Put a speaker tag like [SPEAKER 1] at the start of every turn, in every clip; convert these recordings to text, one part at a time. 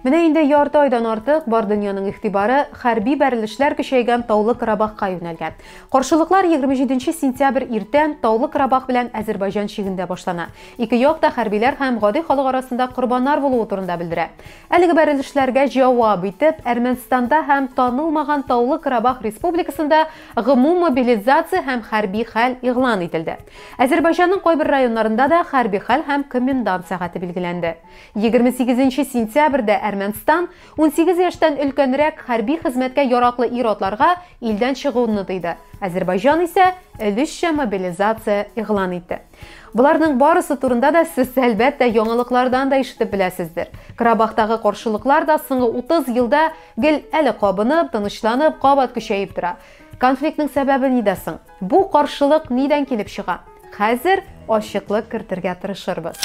[SPEAKER 1] Менә инде ярты айдан артык бар дөньяның игътибары хәрби бәрелешләр көчәйгән Таулы Карабахка юнәлгән. Каршылыклар 27 сентябрь иртән Таулы Карабах белән Әзербайҗан чигендә башлана. Ике як та хәрбиләр һәм гади халык арасында корбаннар булуы турында белдерә. Әлеге бәрелешләргә җавап итеп, Әрмәнстанда һәм танылмаган Таулы Карабах республикасында гомум мобилизация һәм хәрби хәл игълан ителде. Әзербайҗанның кайбер районнарында да хәрби хәл һәм комендант сәгате билгеләнде. Егерме сигезенче сентябрьдә Әрмәнстан унсигез яшьтән өлкәнрәк хәрби хезмәткә яраклы ир-атларга илдән чыгуны тыйды, Әзербайҗан исә өлешчә мобилизация игълан итте. Боларның барысы турында да сез, әлбәттә, яңалыклардан да ишетеп беләсездер. Карабахтагы каршылыклар да соңгы утыз елда гел әле кабынып, тынычланып, кабат көчәеп тора. Конфликтның сәбәбе нидә соң? Бу каршылык нидән килеп чыга? Хәзер ачыклык кертергә тырышырбыз.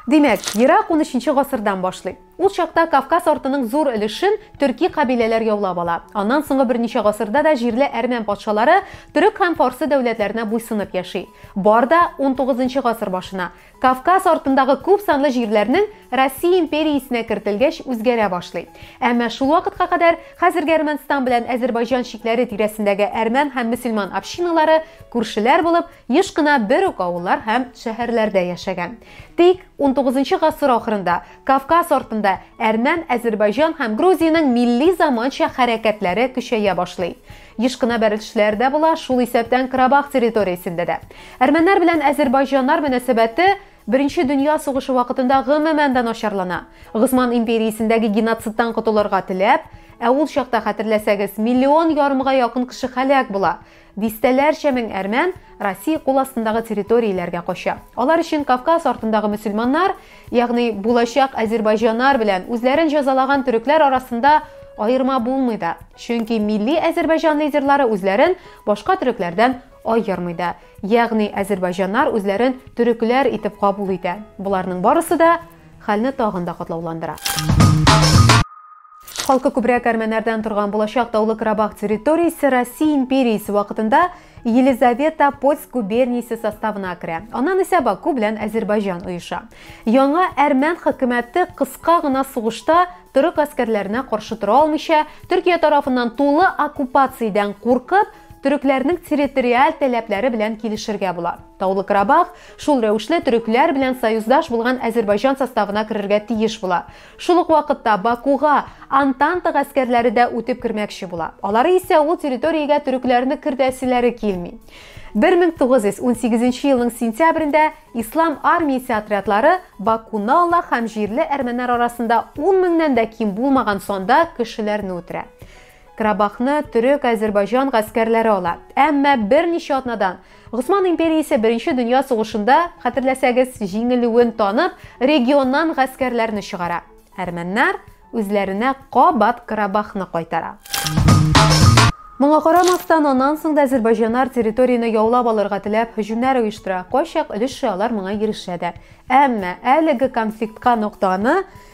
[SPEAKER 1] Димәк, ерак 13 гасырдан башлый. Ул чакта Кавказ артының зур өлешен төрки кабиләләр яулап ала. Аннан соңгы берничә гасырда да җирле әрмән патшалары төрек һәм фарсы дәүләтләренә буйсынып яши. Бар да 19 гасыр башына. Кавказ артындагы күп санлы җирләрнең Россия империясенә кертелгәч үзгәрә башлый. Әмма шул вакытка кадәр хәзерге Әрмәнстан белән Әзербайҗан чикләре тирәсендәге әрмән һәм мөселман общиналары күршеләр булып, еш кына бер үк авыллар һәм шәһәрләрдә яшәгән. Тик унтугызынчы гасыр ахырында Кавказ артында әрмән, Әзербайҗан һәм Грузиянең милли заманча хәрәкәтләре көчәя башлый. Еш кына бәрелешләр дә була, шул исәптән Карабах территориясендә дә. Әрмәннәр белән әзербайҗаннар мөнәсәбәте Беренче дөнья сугышы вакытында гомумән дә начарлана. Госман империясендәге геноцидтан котылырга теләп, ә ул чакта, хәтерләсәгез, миллион ярымга якын кеше һәлак була, дистәләрчә мең әрмән Россия кул астындагы территорияләргә кача. Алар өчен Кавказ артындагы мөселманнар Ягъни булачак азербайҗаннар белән үзләрен җәзалаган төрекләр арасында аерма булмый да. Чөнки милли азербайҗан лидерлары үзләрен башка төрекләрдән аермый да. Ягъни азербайҗаннар үзләрен төрекләр итеп кабул итә. Боларның барысы да хәлне тагын да катлауландыра. Халкы күбрәк әрмәннәрдән торган булачак Таулы Карабах территориясе Россия империясе вакытында Елизавета Польск губерниясе составына керә. Аннан исә Баку белән Әзербайҗан оеша. Яңа әрмән хөкүмәте кыска гына сугышта төрек гаскәрләренә каршы тора алмыйча, Төркия тарафыннан тулы оккупациядән куркып, төрекләрнең территориаль таләпләре белән килешергә була. Таулы Карабах шул рәвешле төрекләр белән союздаш булган Әзербайҗан составына керергә тиеш була. Шул ук вакытта Бакуга Антанта гаскәрләре дә үтеп кермәкче була. Алары исә ул территориягә төрекләрне кертәселәре килми. 1918 елның сентябрендә ислам армиясе отрядлары Бакунала һәм җирле әрмәннәр арасында 10 меңнән дә ким булмаган санда кешеләрне үтерә. Карабахны төрек-азербайҗан гаскәрләре ала. Әмма берничә атнадан Госман империясе Беренче дөнья сугышында, хәтерләсәгез, җиңелүен танып, регионнан гаскәрләрне чыгара. Әрмәннәр үзләренә кабат Карабахны кайтара. Моңа карамастан, аннан соң да азербайҗаннар территорияне яулап алырга теләп һөҗүмнәр оештыра, кайчак өлешчә алар моңа ирешә дә. Әмма әлеге конфликтка ноктаны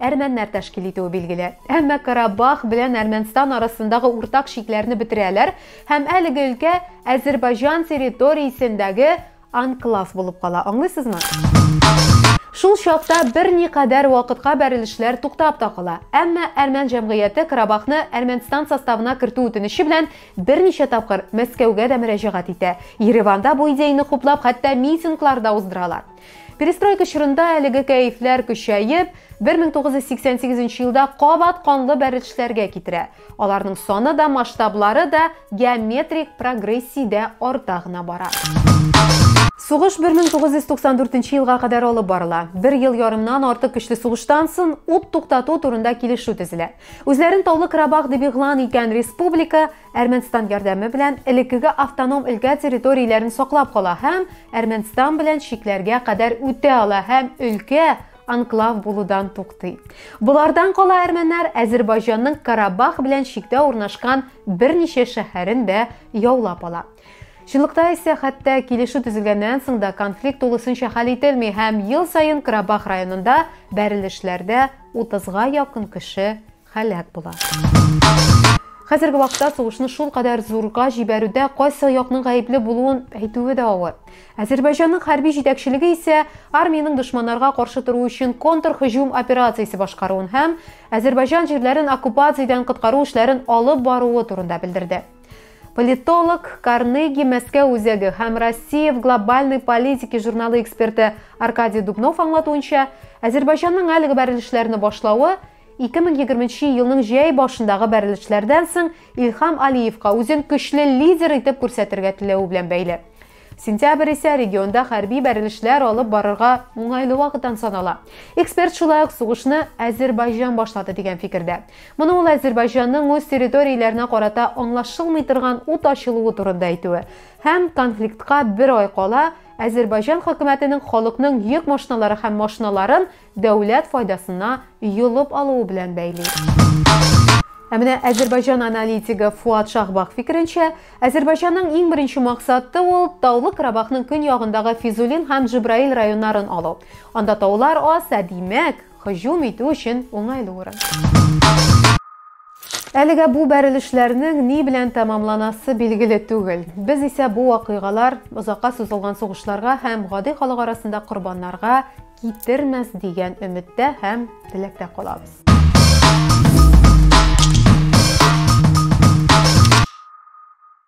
[SPEAKER 1] әрмәннәр тәшкил итүе билгеле. Әмма Карабах белән Әрмәнстан арасындагы уртак чикләрне бетерәләр һәм әлеге өлкә Әзербайҗан территориясендәге анклав булып кала. Аңлыйсызмы? Шул чакта берникадәр вакытка бәрелешләр туктап та кала. Әмма әрмән җәмгыяте Карабахны Әрмәнстан составына кертү үтенече белән берничә тапкыр Мәскәүгә дә мөрәҗәгать итә. Ереванда бу идеяне хуплап, хәтта митинглар да уздыралар. Перестройка чорында әлеге кәефләр көчәеп, 1988 елда кабат канлы бәрелешләргә китерә. Аларның саны да, масштаблары да геометрик прогрессиядә арта гына бара. Сугыш 1994 елга кадәр алып барыла. Бер ел ярымнан артык көчле сугыштан сон ут туктату турында килешү төзелә. Үзләрен Таулы Карабах дип игълан иткән республика Әрмәнстан ярдәме белән элеккеге автоном өлкә территорияләрен саклап кала һәм Әрмәнстан белән чикләргә кадәр үтә ала һәм өлкә анклав булудан туктый. Болардан кала әрмәннәр Әзербайҗанның Карабах белән чиктә урнашкан берничә шәһәрен дә яулап ала. Чынлыкта исә хәтта килешү төзелгәннән соң да конфликт тулысынча хәл ителми һәм ел саен Карабах районында бәрелешләрдә 30га якын кеше һәлак була. Хәзерге вакытта сугышны шулкадәр зурга җибәрүдә кайсы якның гаепле булуын әйтүе дә авыр. Азербайҗанның хәрби җитәкчелеге исә армиянең дошманнарга каршы тору өчен контрһөҗүм операциясе башкаруын һәм Азербайҗан җирләрен оккупациядән коткару эшләрен алып баруы турында белдерде. Политолог Карнеги Мәскәү үзәге һәм Россия в глобальной политике журналы эксперты Аркадий Дубнов аңлатуынча, Азербайҗанның әлеге бәрелешләрне башлавы 2020 елның җәй башындагы бәрелешләрдән соң Илхам Алиевка үзен көчле лидер итеп күрсәтергә теләве белән бәйле. Сентябрь исә регионда хәрби бәрелешләр алып барырга уңайлы вакыттан санала. Эксперт шулай ук сугышны Әзербайҗан башлады дигән фикердә. Моны ул Әзербайҗанның үз территорияләренә карата аңлашылмый торган ут ачылуы турында әйтүе һәм конфликтка бер ай кала Әзербайҗан хөкүмәтенең халыкның йөк машиналары һәм машиналарын дәүләт файдасына йолып алуы белән бәйли. Ә менә Әзербайҗан аналитигы Фуат Шахбах фикеренчә, Әзербайҗанның иң беренче максаты ул Таулы Карабахның көньягындагы Физулин һәм Җибраил районнарын алу. Анда таулар аз, ә димәк, һөҗүм итү өчен уңайлы урын. Әлегә бу бәрелешләрнең ни белән тәмамланасы билгеле түгел. Без исә бу вакыйгалар озакка сузылган сугышларга һәм гади халык арасында корбаннарга китермәс дигән өметтә һәм теләктә калабыз.